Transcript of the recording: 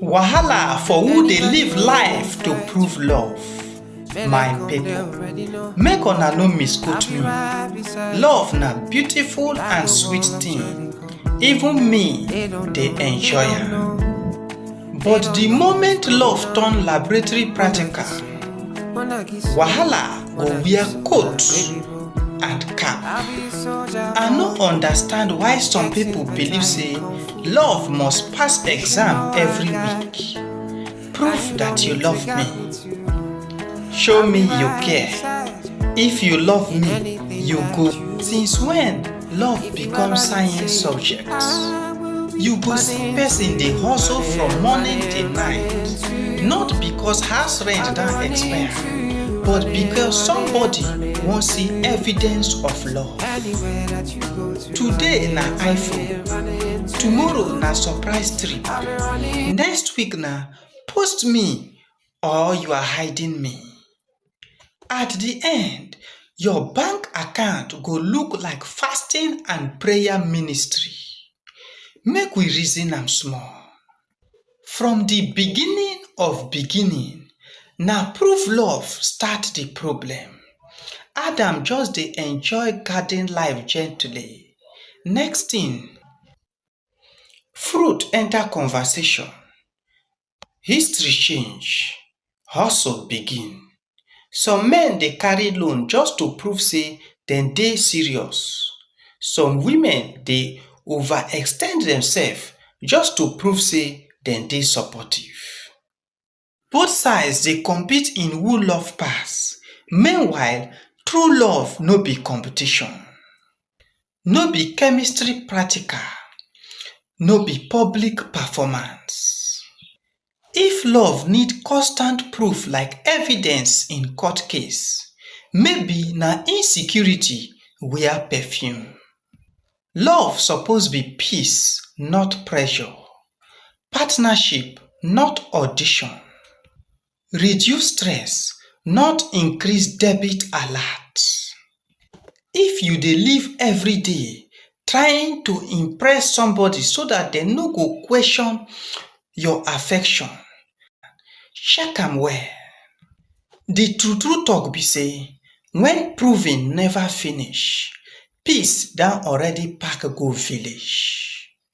Wahala for who dey live life to prove love. My people, make una no misquote me. Love na beautiful and sweet thing. Even me dey enjoy am. But the moment love turn laboratory practical, wahala go wear coat and cap. I no understand why some people believe say Love must pass exam every week. Prove that you love me. Show me you care. If you love me, you go. Since when love become science subject? You go see person dey hustle from morning till night. Not because house rent don expire, but because somebody wan see evidence of love. Today na iPhone, tomorrow na surprise trip, next week na post me or you are hiding me. At the end, your bank account go look like fasting and prayer ministry. Make we reason am small. from di beginning of beginning na prove love start di problem adam just dey enjoy garden life gently next thing fruit enter conversation history change hustle begin Some men dey carry loan just to prove sey dem dey serious. Some women dey over extend demsef just to prove sey dem dey supportive. Both sides dey compete in who love pass, meanwhile, true love no be competition. no be chemistry practical no be public performance if love need constant proof like evidence in court case maybe na insecurity wear perfume love suppose be peace not pressure partnership not audition Reduce stress, not increase debit alert. If you dey live everyday trying to impress somebody so dat dem no go question your affection, check am well. The true true talk be sey, when proving never finish, peace don already pack go village.